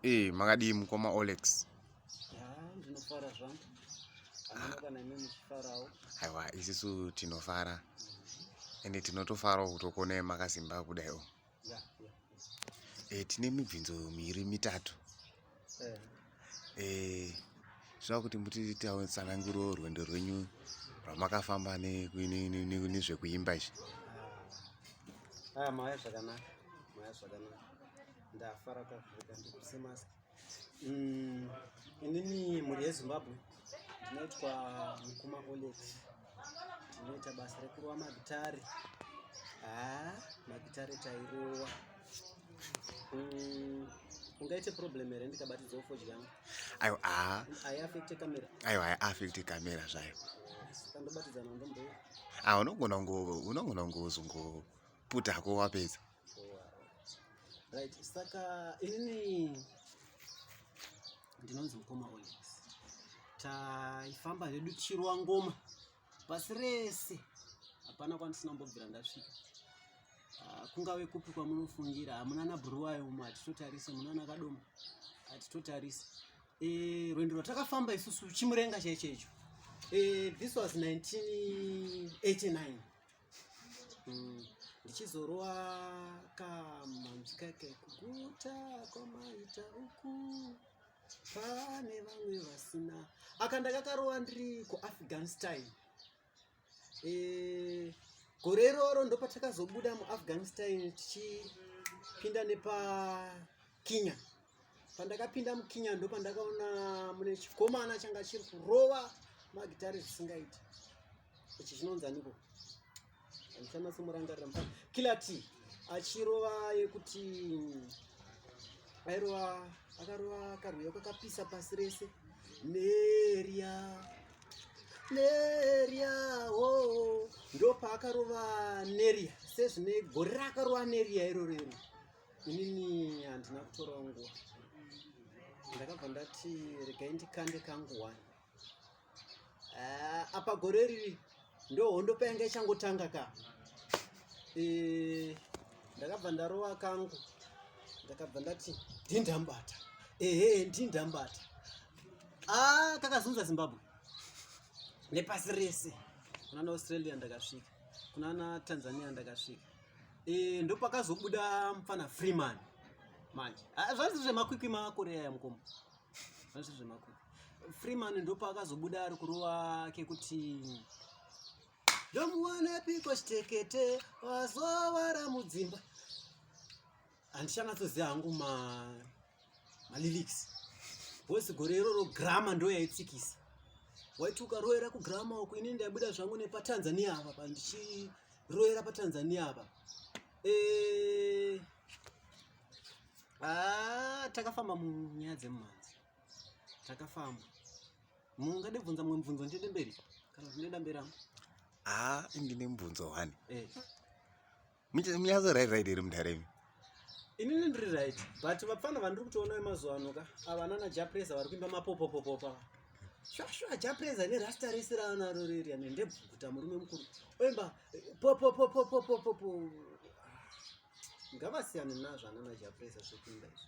Eh, makadii mukoma Olex? Ndinofara zvangu. Kana imi muchifarawo. Aiwa, isisu tinofara. Ende tinotofarawo kutokona makasimba kudai o. Yeah, yeah. Eh, tine mibvinzo miri mitatu. Eh. Eh, zvava kuti muti tsananguro rwendo rwenyu rwamakafamba nezvekuimba izvi. Ah, ah, maya zvakanaka. Maya zvakanaka. ndafara kuvhurika ndikuse mask mm, inini mhuri yezimbabwe ndinoitwa mukuma olet ndinoita basa rekurowa magitare haa ah, magitare tairowa mm, ungaite problem here ndikabatidza ufoji yangu aiwa haa ah. aiafekte kamera aiwa aiafekte kamera zvayo kandobatidza nando mbo ah, unogona unogona kungozongoputa hako wapedza Right, saka inini ndinonzi mukoma Onyx. Taifamba hedu chirwa ngoma pasi rese, hapana kwandisina kumbobvira ndasvika. Ah, kungave kupi kwamunofungira, hamuna nabhuruwayo umo hatitotarise, munana kadoma hatitotarise. Eh, rwendo rwatakafamba isusu chimurenga chaicho icho. Eh, this was 1989. mm. ndichizorwa kamanzi kake kuguta kwamaita uku pane vamwe vasina aka ndakakarova ndiri kuafghanistan e, gore iroro ndopatakazobuda muafghanistan tichipinda nepakenya pandakapinda mukinya ndo pandakaona mune chikomana changa chiri kurova magitare zvisingaiti ichi chinonzi aniko andisanatsomurangarira mufana kilati achirova yekuti airova akarova karwiyo kakapisa pasi rese neria neria o oh. ndopa akarova neria sezvine gore rakarova neria iroro iroro inini handina kutorawo nguva ndakabva ndati regai ndikande kangu wani ah, apa gore riri ndo hondo payanga ichangotanga ka eh, ndakabva ndarova kangu ndakabva ndati ndindambata ehe ndindambata a ah, kakazunza zimbabwe nepasi rese kunana australia ndakasvika kunana tanzania ndakasvika Eh, ndopakazobuda mfana Freeman manje ah, zvanzi zvemakwikwi makoreya ya mukoma zvanzi zvemakwikwi Freeman ndopakazobuda ari kurova kekuti ndomuwana piko chitekete wazovara mudzimba handichanatsoziva hangu ma malyrics bcause gore iroro grama ndo yaitsikisa waiti ukaroera kugrama uku ini ndaibuda zvangu nepatanzania apa pa ndichiroera patanzania apa e... ah, takafamba munyaya dzemumhanzi takafamba mungade bvunza mumwe mubvunzo ndiende mberi kana zvinoenda mberi angu haa ah, ndine mubvunzo one eh. Munyazo right right iri mudhara imi. Inini ndiri right but vapfana vandiri kutoona vemazuva ano ka ava nana Japreza vari kuimba mapopopopopa. Shwashwa Japreza ne rasta rese raanaro riri ane ndebvukuta murume mukuru. Oimba popopopopopopopo. Ngavasiyane nazvo anana Japreza zvekuimba izvi.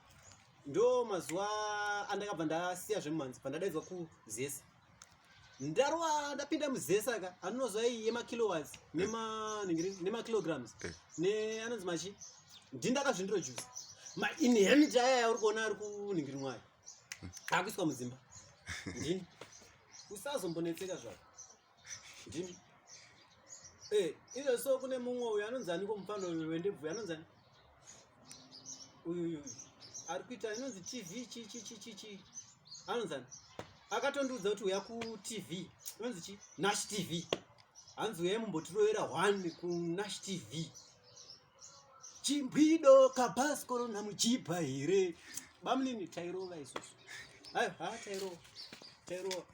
ndo mazuva andakabva ndasiya zvemumhanzi bva ndadaidzwa kuzesa ndarwa ndapinda muzesa ka anonozwa iyi yemakilowats nemakilograms eh. neanonzi machi ndindakazvindiro juzi mainhemit aya yauri kuona ari kunhingiri mwayo akuiswa mudzimba ndini usazombonetseka zvako Ndimi. Eh, izo so kune mumwe uyu anonzi aniko mufana uyu wendebvu anonzi ani? Uyu uyu. Ari kuita inonzi TV chi chi chi chi chi. Anonzi ani? Akatondiudza kuti uya ku TV. Inonzi chi? Nash TV. Hanzi uya mumbotiroera one ku Nash TV. Chimbwido kabaskoro na muchipa here? Bamlini tairova isusu. Hayi, ha tairova. Tairova.